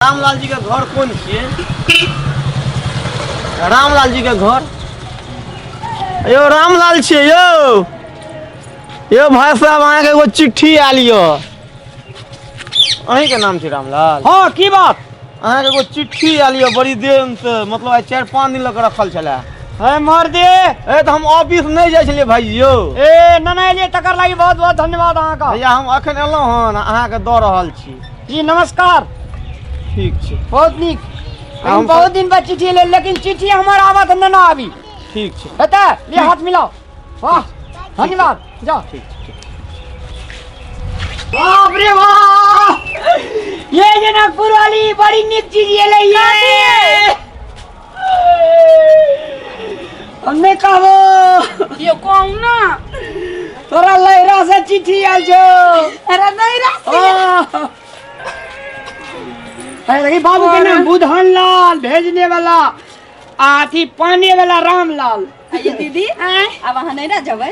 रामलाल जी के घर कौन छिए रामलाल जी के घर यो रामलाल छिए यो यो भाई साहब अहाँ के एगो चिट्ठी आयल यो अहीं के नाम छी रामलाल हाँ की बात अहाँ के एगो चिट्ठी आयल यो बड़ी दिन से मतलब आइ चारि पाँच दिन लग रखल छले है मर दे ए तो हम ऑफिस नहीं जाइ छलिए भाई यो ए नना एलिए तकर लागी बहुत बहुत धन्यवाद अहाँके भैया हम अखन एलहुँ हन अहाँके दऽ रहल छी जी नमस्कार ठीक छै बहुत नीक लेकिन हम- बहुत दिन बाद चिट्ठी ले लेकिन चिट्ठी हमर आबत तऽ नहि ने आबी ठीक छै हेतै ले हाथ मिलाओ वाह धन्यवाद जाओ ठीक छै ठीक बाप रे वाह ये जनकपुर वाली बड़ी नीक चीज ये ले ये हम नहि कहबो कियो कहू ना तोरा लहरा से चिट्ठी आयल छो अरे नहीं रा ओ। अरे देखी बाबू के नाम बुधन लाल भेजने वाला आ अथी पाने वाला रामलाल आ ये दीदी अब अहाँ नहीं ना जबै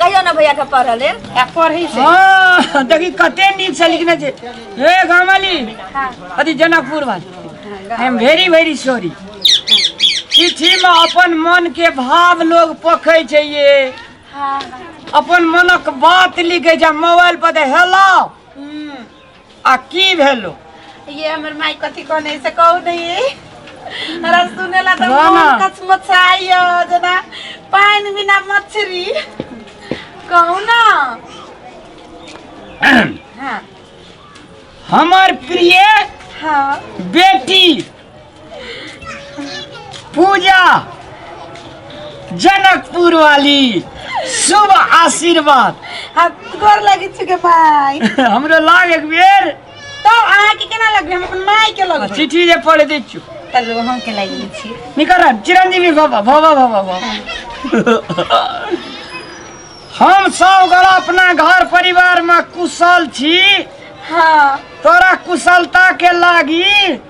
कहियो ना भैया के पढ़ल है आ पढ़ी से हाँ देखी कते नीक से लिखने छै हे गामली अथी जनकपुर वाली I am very very sorry चिट्ठी में अपन मन के भाव लोग पखै छै ये अपन मनक बात लिखै छै मोबाइल पर तऽ हेलो आ की भेलो ये हमर माई कथी कहने से कहू नहीं हमरा सुनेला त वाह ना। मन कच मचाइयो जना पानी बिना मछरी कहू ना हाँ हमर प्रिय हाँ बेटी पूजा जनकपुर वाली शुभ आशीर्वाद हम गोर लगे छी के माई हमरो लाग एक बेर तो अहाँ के केना लगबे हम अपन माई के लगबे चिट्ठी जे पढ़ दै छियौ तब हम के लागि लै छी निकर चिरंजीवी बाबा बाबा बाबा बाबा हम सब गोरा अपना घर परिवार में कुशल छी हाँ तोरा कुशलता के लागी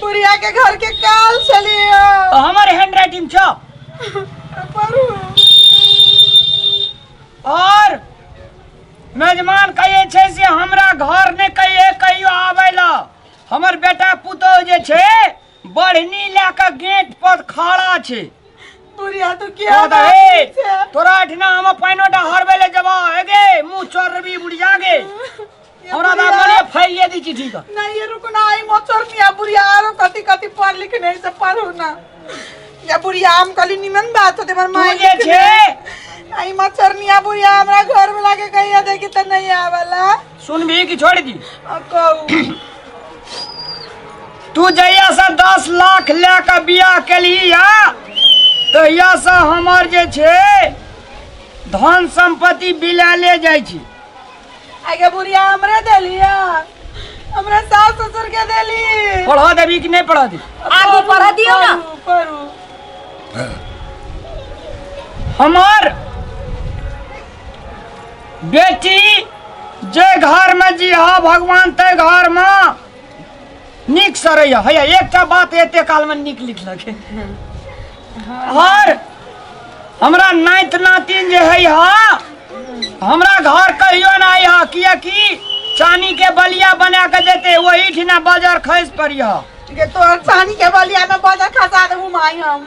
बुढ़िया के घर के काल चलियो तो हमारे हैंड राइटिंग छो पढ़ू और मेजमान कहे छे से हमरा घर ने कहिए कहियो आवे ला हमर बेटा पुतो जे छे बढ़नी ला के गेट पर खड़ा छे बुढ़िया तो क्या तो बात दहे, छै? तोरा अठना हम पाइनो डा हरबे ले जबा हेगे मुंह चोर रबी बुढ़िया गे हमरा दा मने फाइल ले दी चिट्ठी का नहीं ये रुको ना आई मोचर मिया बुढ़िया आरो कति कति पढ़ लिख नहीं से पढ़ू ना या बुढ़िया हम कली निमन बात होते मर माई जे लिख छे। नहीं। आई मोचर मिया बुढ़िया हमरा घर में लाके कहिया देखी त नहीं आवला सुन भी कि छोड़ दी आ कहू तू जहिया से दस लाख ले के बियाह केली या तहिया से हमर जे छे धन संपत्ति बिला ले जाइ छी आगे बुढ़िया हमरे देलिया हमरा सास ससुर के देली पढ़ा देवी कि नहीं पढ़ा दी आगे पढ़ा दियो ना पढ़ू हमार बेटी जे घर में जी हा भगवान ते घर में नीक सड़ैए हैया एकटा बात एते कालमे नीक लिखलक आओर हमरा नाइत नातिन जे है हा हमरा घर कहियो ना आई हा कियकि चानी के बलिया बना के देते वही ठिना बाजार खैस पड़ी हा के तोहर चानी के बलिया में बजा खसा देबू माई हम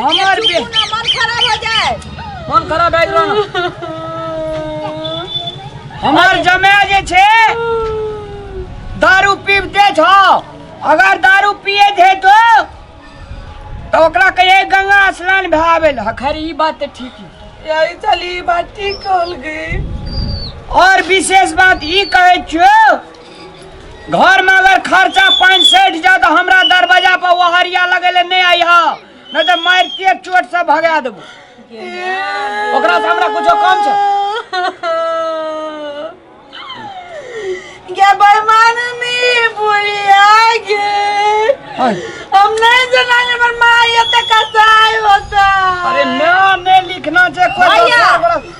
हमर बे मन खराब हो जाए मन खराब भए गेलो ना हमर जमे जे छे दारू पीबते छो अगर दारू पिए थे तो तो ओकरा कहे गंगा स्नान भए आवेल हखर ई बात ते ठीक है यही चली बात ठीक कहल गई और विशेष बात ई कहे छो घर में अगर खर्चा पाँच सैठ जा तो हमरा दरवाजा पर ओहरिया लगेले नहीं आई हा नहीं तो मार के चोट से भगा देबो ओकरा से हमरा कुछो कम छै क्या बरमान में बुढ़िया गे हाय। हम नहीं जाना ये बरमान ये तक कसाई होता अरे नाम नहीं लिखना छै कोई भैया। दोसर बड़ा-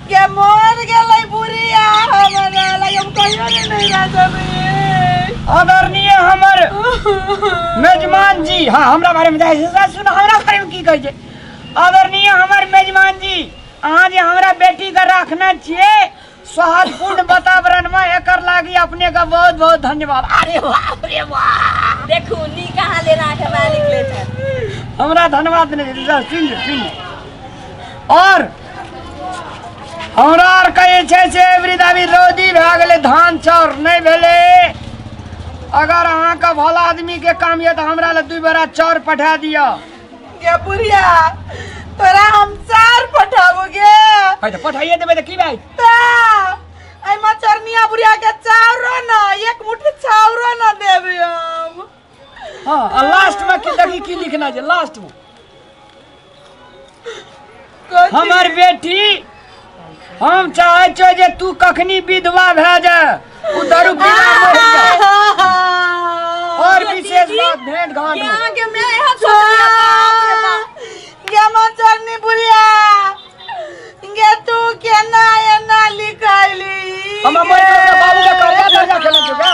के मर गेलै बुढ़िया हमरा लग हम कहियो ने नहीं रह सकली आदरणीय हमर मेजमान जी हाँ हमरा बारे में जाय छै सर सुन हमरा बारे में की कहै छै आदरणीय हमर मेजमान जी अहाँ जे हमरा बेटी के रखने छियै सौहार्दपूर्ण वातावरण में एकर लागी अपने के बहुत बहुत धन्यवाद अरे बाप रे बाप देखू नी कहाँ ले राख हमरा निकले छै हमरा धन्यवाद नहीं सर सुन सुन और हमरा आर कहै छै से वृद्ध अभी रौदी भए गेलै धान चाउर नहि भेलै अगर अहाँके भला आदमीके काम यऽ तऽ हमरा लए दू बेरा चाउर पठा दिअ गे बुढ़िया तोरा हम चार पठाबो गे है तऽ पठाइए देबै तऽ की भाइ ता एहिमे चरनिया बुढ़िया के चाउरो न एक मुट्ठी चाउरो न देबे हम हाँ आ लास्ट में की देखी की लिखना है लास्ट में हमर बेटी हम चाहे छो जे तू कखनी विधवा भए जा तू दारू पीना मरि जा और विशेष बात भेंट घाट में। यहाँ के मैं यहाँ छोड़ दिया बाप रे बाप। गे मचरनी बुढ़िया गे तू केना एना लिखैली हम मरि जाऊ, बाबू के कर्जा तर्जा खेलै छौ का?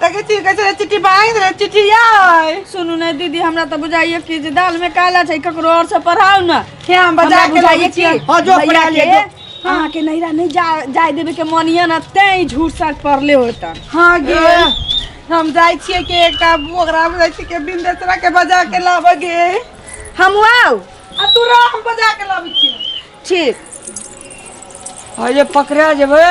तके छी कैसे रे चिट्ठी मांग रे चिट्ठी आय सुनू ने दीदी हमरा तऽ बुझाइए कि जे दाल में काला छै ककरो और से पढ़ाउ ने क्या हम बजा के बुझाइए लाबै कि छियै? हाँ, जो भैया पढ़ा लिअ, के जो। अहाँ के नैरा नहीं जा जाय देबे के मन ये ना तें झूठ साच पढ़ले होतन हाँ गे हम जाइ छियै के एकटा ओकरा जाइ छियै के बिंदेसरा के बजा के लाबऽ गे हम आउ आ तू रह हम बजा के लाबै छियै ठीक अरे पकड़ा जेबै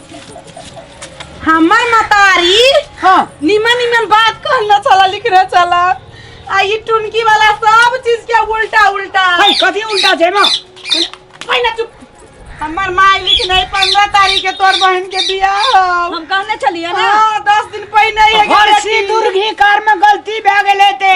हमर मतारी हाँ निमन निमन बात कहना चला लिखना चला आ ई टुनकी वाला सब चीज के उल्टा उल्टा है कथी उल्टा छै माँ पहिना चुप हमर माय लिखने पंद्रह तारीख के तोर बहन के बियाह हौ। हम कहने छलियै ने हाँ, दस दिन पहिने ही हर एगारह सिंदूर दिन। घी कार में गलती भए गेलै ते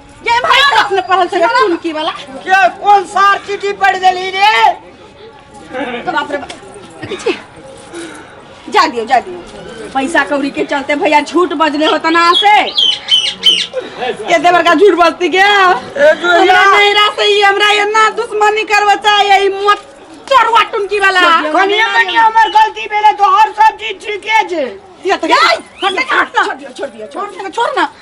ये भाई तक ने पढ़ल छले सुन की वाला के कोन सार चिट्ठी पढ़ देली रे तो बाप रे बाप। देखै छी? जा दियो जा दियो पैसा कौड़ी के चलते भैया झूठ बजले होता ना से के देवर का झूठ बजती के हमरा नहीं रह सही हमरा ये ना दुश्मनी करवा चाहिए ई मत चरवा टुनकी वाला कनिया मनी हमर गलती भेले तो हर सब चीज ठीके छै ये तो हट हट छोड़ दियो छोड़ दियो छोड़ छोड़ ना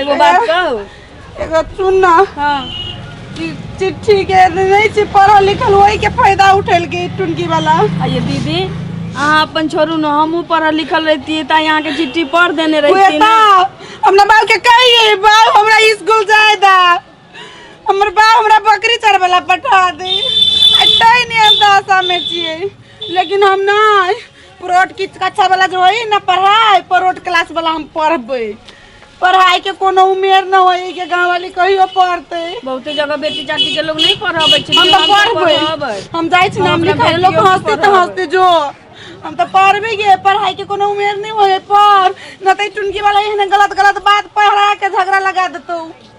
एगो बात कहू एगो सुन ना हाँ ई चिट्ठी के नहीं छी पढ़ल लिखल वही के फायदा उठेल के टुनकी वाला आ ये दीदी अहाँ अपन छोड़ू ने हमहूँ पढ़ल लिखल रहती तऽ यहाँ के चिट्ठी पढ़ देने रहती उहे ना। तऽ हमरा बाप के कहिए बाप हमरा स्कूल जाए दा हमर बाप हमरा बकरी चरबला पठा दे आ तै ने दशा में छिए लेकिन हम ना परोट किछु कक्षा वाला जो है ना पढ़ाई परोट क्लास वाला हम पढ़बे पढ़ाई के कोनो उमेर न होई के गांव वाली कहियो पढ़ते बहुते जगह बेटी चाटी के लोग नहीं पढ़ाबै छै हम तो पढ़बे हम जाय छी नाम अपना लिखाए लोग बेटियों के हंसते तो पढ़ाबै। हंसते जो हम तो पढ़बे गे पढ़ाई के कोनो उमेर नहीं होए पढ़ न तो टुनकी वाला एहन गलत गलत बात पढ़ा के झगड़ा लगा देतौ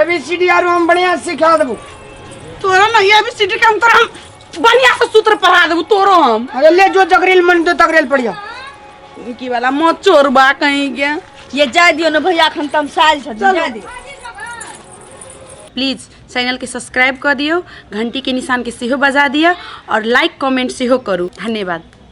एबीसीडी आरो हम बढ़िया से सिखा देबू तोरा ना ये भी सीटी काम तोरा हम बढ़िया से सूत्र पढ़ा देबू तोरो हम अरे ले जो जगरेल मन तो तगरेल पड़िया की वाला मत चोरबा कहीं के ये जाए दियो ना भैया अखन तम साल छ जाए दियो प्लीज चैनल के सब्सक्राइब कर दियो घंटी के निशान के सेहो बजा दिया और लाइक कमेंट सेहो करू धन्यवाद